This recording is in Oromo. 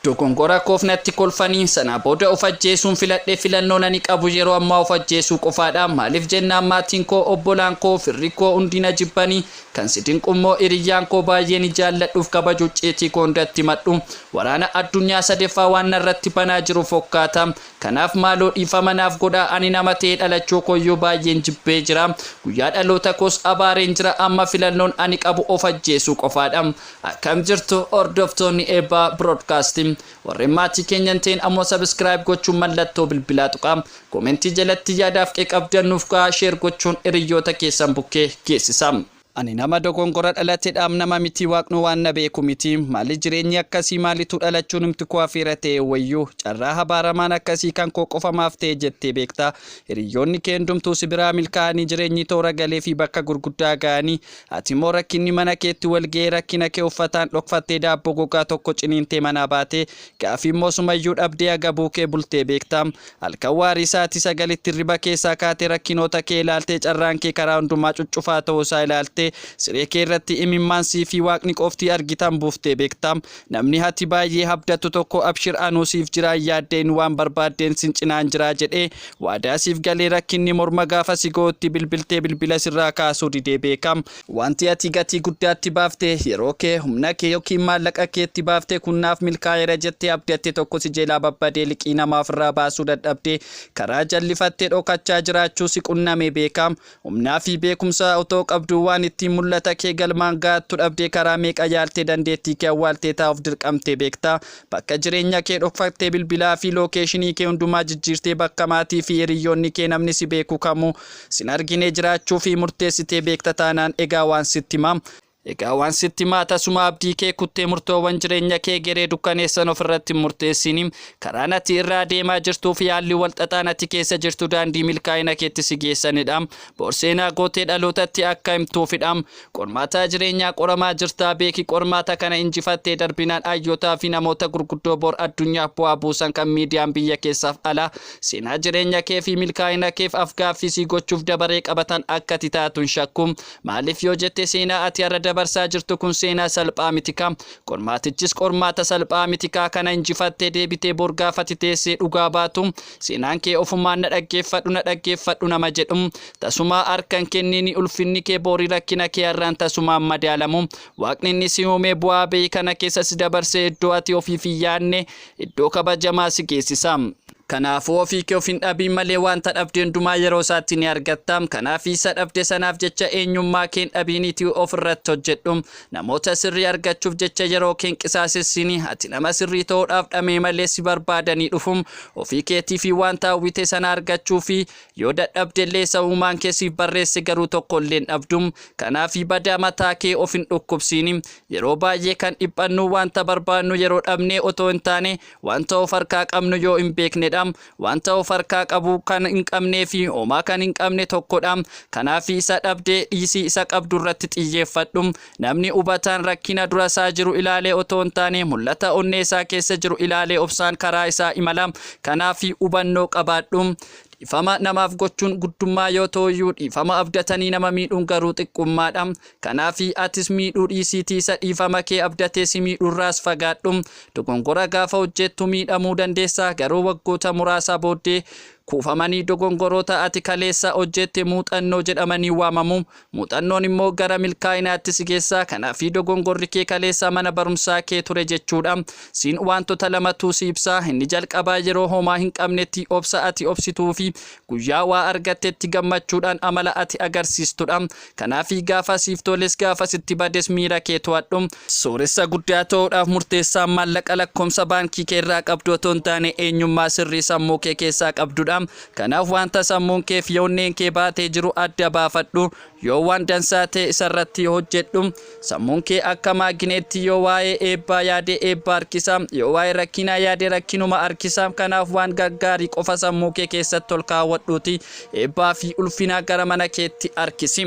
Dogongora koof natti kolfanii sanaa booda of ajjeesuun filadhe filannoon ani qabu yeroo ammaa of ajjeesuu qofaadha maaliif jennaan maatiin koo obbolaan koo firri koo hundi na jibbanii kan si dinqu immoo hiriyyaan koo baayyeeni jaalladhuuf kabaju icciitii koo hundatti himadhu waraana addunyaa sadeffaa waan narratti banaa jiru fokkaata kanaaf maaloo dhiifama naaf godhaa ani nama ta'ee dhalachuu kooyyuu baayyeen jibbee jira guyyaa dhaloota koos abaareen jira amma filannoon ani qabu of ajjeesuu qofaadha Akkam jirtu hordoftoonni Eebbaa Broadcast. Warreen maatii keenya hin ta'in ammoo subscribe gochuun mallattoo bilbilaa tuqaa. Comment jalatti yaadaaf qeeqa qabdan nuuf kaa'aa share gochuun hiriyyoota keessan bukkee geessisaa. Ani nama dogongora dhalate dhaam nama miti waaqnu waan na beeku miti maali jireenyi akkasii maalitu dhalachuu numti koo afeera ta'e wayyu carraa habaaramaan akkasii kan koo qofa maaf ta'e jettee beekta hiriyyoonni kee hundumtuu si biraa milkaa'anii jireenyi toora galee fi bakka gurguddaa ga'anii Ati immoo rakkinni mana keetti wal ga'ee rakkina kee uffataan dhokfattee daabboo gogaa tokko ciniintee manaa baatee gaafi immoo sumayyuu dhabdee agabuu kee bultee beekta. Halkan waarii sa'aatii sagalitti hirriba keessaa kaatee rakkinoota kee ilaaltee carraan kee karaa hundumaa cuccufaa ta'uu isaa ilaaltee siree kee irratti imimmaan sii fi Waaqni qofti argitan buuftee beekta. Namni hati baay'ee habdattu tokko abshir anuu siif jiraa yaaddeen waan barbaaddeen sin cinaan jiraa jedhee waadaa siif galee rakkinni morma gaafa si ga'utti bilbiltee bilbila sirraa kaasuu didee beeka. Wanti ati gatii guddaa itti baafte, yeroo kee, humna kee ykn maallaqa kee itti baafte kun naaf milkaa'eera jettee abdatte tokko si jelaa babbadee liqii namaa ofirraa baasuu dadhabdee karaa jallifatte dhokachaa jiraachuu si qunnamee beeka. Humnaa fi beekumsa otoo qabduu waan ittiin mul'ata kee galmaan ga'attu dhabdee karaa meeqa yaaltee dandeettii kee awwaaltee taa'uuf dirqamtee beekta? Bakka jireenya kee dhokfattee bilbilaa fi lookeeshinii kee hundumaa jijjiirtee bakka maatii fi hiriyyoonni kee namni si beeku kamuu sin argine jiraachuu fi murteessitee beekta taanaan egaa waan sitti himaa Egaa waan sitti himaa tasuma abdii kee kuttee murtoowwan jireenya kee geree dukkaneessan ofirratti hin murteessiini. Karaan ati irra adeemaa jirtuu fi haalli wal xaxaan ati keessa jirtu daandii milkaa'ina keetti si geessanidha. Bor seenaa gootee dhalootatti akka himtuufidha. Qormaataa jireenyaa qoramaa jirta. Beeki qormaata kana injifattee darbinaan hayyootaa fi namoota gurguddoo bor addunyaaf bu'aa buusan kan miidiyaan biyya keessaaf alaa seenaa jireenya kee fi milkaa'ina keef af-gaaffii si gochuuf dabaree qabatan akka ati taatu hin shakku. Maaliif yoo jette seenaa ati har'a dabarsaa jirtu kun seenaa salphaa mitikaa. Qormaatichis qormaata salphaa mitikaa kana injifattee deebitee bor gaafa ati teessee dhugaa baatu seenaan kee ofumaan na dhaggeeffadhu na dhaggeeffadhu nama jedhu tasumaa harka hin kenniini ulfinni kee boori rakkina kee har'aan tasumaan madaalamu waaqni inni si uumee bu'aa bahii kana keessa si dabarsee iddoo ati ofiif hin yaadne iddoo kabajamaa si geessisa. Kanaafuu ofii kee of hin dhabiin malee waanta dhabde hundumaa yeroo isaatti ni argatta. Kanaaf isa dhabde sanaaf jecha eenyummaa kee hin dhabiiniitii of irratti hojjedhu. Namoota sirrii argachuuf jecha yeroo kee hin qisaasessiini. Ati nama sirrii ta'uudhaaf dhama'e malee si barbaadanii dhufu. Ofii keetii fi waanta hawwite sana argachuufi. Yoo dadhabde illee isa uumaan kee siif barreesse garuu tokko illee hin dhabdu. Kanaaf badaa mataa kee of hin dhukkubsiini. Yeroo baay'ee kan dhiphannu waanta barbaadnu yeroo dhabnee otoo hin taane Wanta of harkaa qabnu yoo hin beekne dha. Wanta of harkaa qabu kan hin qabnee fi homaa kan hin qabne tokko dha. Kanaafi isa dhabdee dhiisii isa qabdu irratti xiyyeeffadhu. Namni hubataan rakkina dura isaa jiru ilaalee otoo hin taane mul'ata onnee isaa keessa jiru ilaalee obsaan karaa isaa imala. Kanaafi hubannoo qabaadhu. Dhifama namaaf gochuun guddummaa yoo ta'uyyuu dhiifama abdatanii nama miidhuun garuu xiqqummaadha. Kanaafi atis miidhuu dhiisiitii isa dhiifama kee abdatee si miidhurraas fagaadhu. Dogongora gaafa hojjeettu miidhamuu dandeessa garuu waggoota muraasa booddee kuufamanii dogongoroota ati kaleessa hojjeette muuxannoo jedhamanii waamamu. Muuxannoon immoo gara milkaa'inaatti si geessa. Kanaafi dogongorri kee kaleessa mana barumsaa kee ture jechuudha. Siin waantota lamatu si ibsa. Inni jalqabaa yeroo homaa hin qabnetti obsa ati obsituufi guyyaa waa argattetti gammachuudhaan amala ati agarsiistudha. Kanaafi gaafa siif toles gaafa sitti bades miira kee to'adhu. Sooressa guddaa ta'uudhaaf murteessaan maallaqa lakkoomsa baankii kee irraa qabdu otoo hin taane eenyummaa sirrii sammuu kee keessaa qabdudha. Kanaaf wanta sammuun kee fi onneen kee baatee jiru adda baafadhu, yoo waan dansaa ta'e isa irratti hojjedhu. Sammuun kee akka maagineettii yoo waa'ee eebbaa yaade eebba harkisa, yoo waa'ee rakkinaa yaade rakkinuma harkisa. Kanaaf waan gaggaarii qofa sammuu kee keessatti ol kaawwadhuutii eebbaa fi ulfina gara mana keetti harkisi.